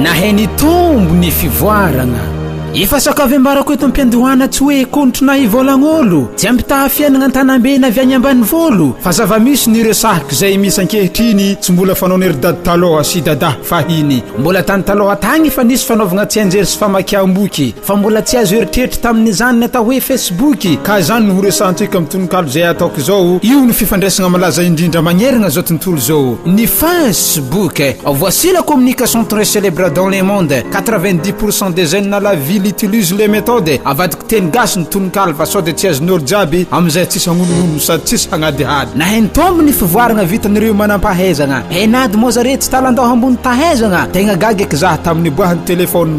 nahay ny tombo ny fivoarana efa sakavembarako eto am-piandohana tsy hoe kontrona ivolagnolo tsy ampitaha fiainagna an-tanambena avy agny ambany volo fa zava-misy ny ireo sahiko izay misy ankehitriny tsy mbola fanao ny ry dady taloha sy dada fahiny mbola tany taloha tagny efa nisy fanaovagna tsianjery sy famakiam-boky Fa mbola tsy azo eritreritry tamin'izany ny atao hoe Facebook, ka izany no horesahantsika amin'ny tononkalo izay ataoko izao. Io no fifandraisana malaza indrindra magnerana izao tontolo izao, ny Facebook. Voici la communication très célèbre dans le monde, 90 pour cent des jeunes à la ville utilisent les méthodes, avadiko teny gasy ny tononkalo fa sao dia tsy azon'olo jiaby amin'izay tsisy hagnonongono sady tsisy hagnadihady. Nahaino tombo ny fivoarana vitan'ireo manampahaizana. Heinad moa zareo tsy talandao hambony tahaizana. Tegna gaga eky zah tamin'ny niboahan'ny téléphone.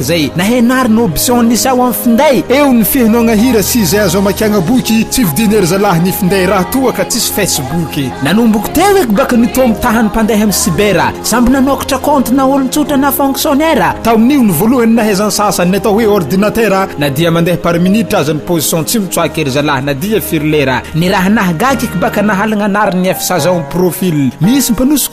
Zay nahenary ny option nisy ao am finday. Eo ny fihenoagna hira sy izay azo amakiagna boky, tsy vidina ery zalahy ny finday raha toa ka tsisy Facebook. Nanomboko teo eky baka ny toa mitaha ny mpandeha am cyber, samby nanokatra compte na olon-tsotra na fonctionnaire, tamin'io ny voalohany nahaizan'ny sasany ny atao hoe ordinatera, na dia mandeha par minute aza ny position tsy mitsoaka ery zalahy na dia firy lera, ny raha nahagaga eky baka nahalagna anarany ny FSazao am profil, misy mpanosika.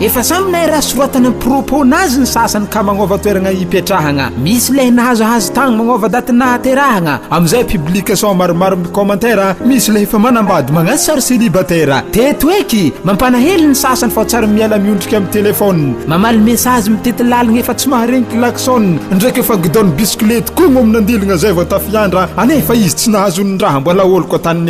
Efa samy nairaha soratana ny propos-na azy ny sasany ka magnova toeragna ipetrahagna. Misy lay nahazo azy tagny magnova daty nahaterahagna. Amizay public sao maromaro mi-commentaire, misy lay efa manambady magnasy sary celibataire. Teto eky, mampanahelo ny sasany fa tsary miala miondrika amy telephone. Mamaly message mitety lalagna efa tsy maharegny klaxon, ndraiky efa guidon-bisikilety kogno amy nandiligna zay vao tafiandra, anefa izy tsy nahazo ny raha mbola oloko tagny.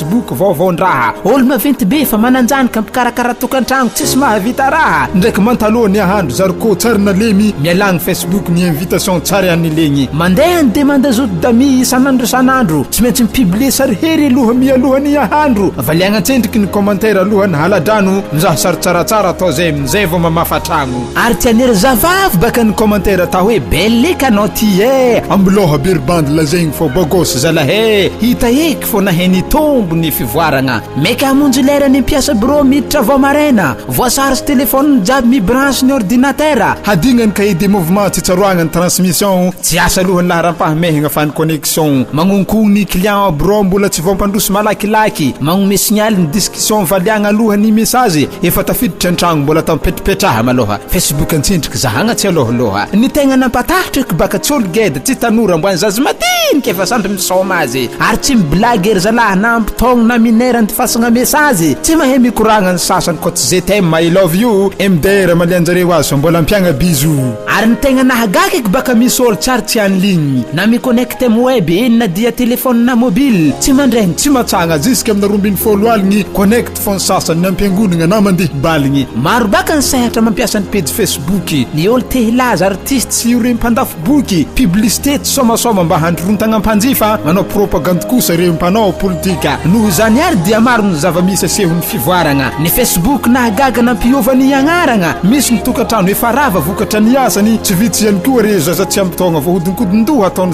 Boky vaovaon-draha, Ol maventy be fa manan-janoka mpikarakara tokantragno tsisy mahavita raha ndraiky mantaloha ny ahandro zarikô tsary nalemy mialà ny Facebook ny invitation tsary an'i legny. Mandeha ny demande zoto d'amis isan'andro isan'andro tsy maintsy mi-publier sary hery aloha mialoha ny ahandro avaliagna an-tsendriky ny commentaire alohan'ny hala-drano mizaha sary tsaratsara atao zay amin'izay vao mamafa tragno ary tsy anery zavavy baka ny commentaire atao hoe belle eka anao ty eh ambilao habery bandy lazaigny fô bôgôsy zalahy eh hita eh Foana he nitombo ny fivoaragna. Maika hamonjy lera ny mpiasa birao miditra vao maraina. Voa-charge téléphone jiaby mi-branche ny ordinatera. Hadigna ny cahier de mouvement tsy tsaroagna ny transmission. Tsy asa aloha ny laharam-pahamehagna fa ny connexion. Magnonkogno ny client ao birao mbola tsy vao mpandroso malakilaky. Magnome signal ny discussion valiagna aloha ny message. Efa tafiditra an-tragno mbola atao mipetrapetraha malôha. Facebook an-tsindry. Kizahagna tsy alohalohha. Ny tegna nampatahotra eky baka tsy olo geda tsy tanora mbo any zaza madinika efa sampy misaoma azy ary tsy miblagy ery zalahy na ampitaogno na minera andifasagna mesazy tsy mahay mikoragna ny sasany ko tsy ze t'aime i love you MDR malianjareo aza mbola ampiagna bisous. Ary ny tegna nahagaga eky baka misy olo tsy ary tsy any ligne na miconnecte am web eny na dia telephone na mobile tsy mandraigny tsy matsagna jusque amina roa ambin'ny folo aligny connect Fa ny sasany ny ampiangonagna na mandeha baligny. Maro baka ny sehatra mampiasa ny pejy Facebook, ny olo te hilaza, artiste sy ireo mpandafo boky, publicité tsy soamasoama mba handrontagna mpanjifa, manao propagandy kosa ireo mpanao politika. Noho izany ary dia maro ny zava-misy asehon'ny fivoaragna. Ny Facebook nahagaga nampiova ny agnaragna, misy ny tokantrano efa rava vokatra ny asany, tsy vitsy ihany koa ireo zaza tsy ampy taogna voahodinkodin-doha ataon'ny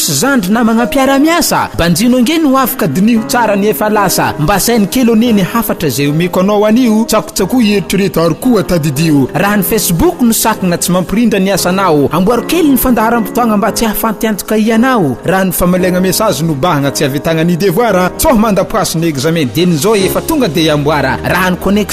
Sy zandry namagna mpiara-miasa, banjino ange ny hoavy ka diniho tsara ny efa lasa, mba saino kely anie ny hafatra izay omeko anao anio, tsakotsakoy eritrereto ary koa tadidio raha ny Facebook no sakagna tsy mampirindra ny asanao, amboaro kely ny fandaharam-potoagna mba tsy hahafantiantoka hianao, raha ny famaliagna message no bahagna tsy ahavitagna ny devoara, tsoha mandapoasy ny examen dieny zao efa tonga dia amboara, raha ny connexion.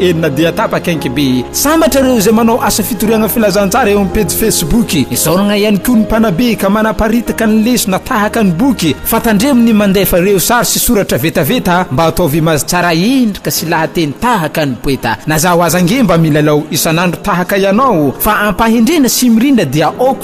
Eny na dia tapaka aink be. Sambatra ireo izay manao asa fitoriagna filazantsara eo amin'ny pejy Facebook. Isaoragna ihany koa ny mpanabe ka manaparitaka ny lesona tahaka ny boky fa tandremo ny mandefa ireo sary sy soratra vetaveta mba ataovy image tsara endrika sy lahateny tahaka ny poeta. Na zaho aza ange mba milalao isan'andro tahaka ianao fa ampahendrena sy mirindra dia ok.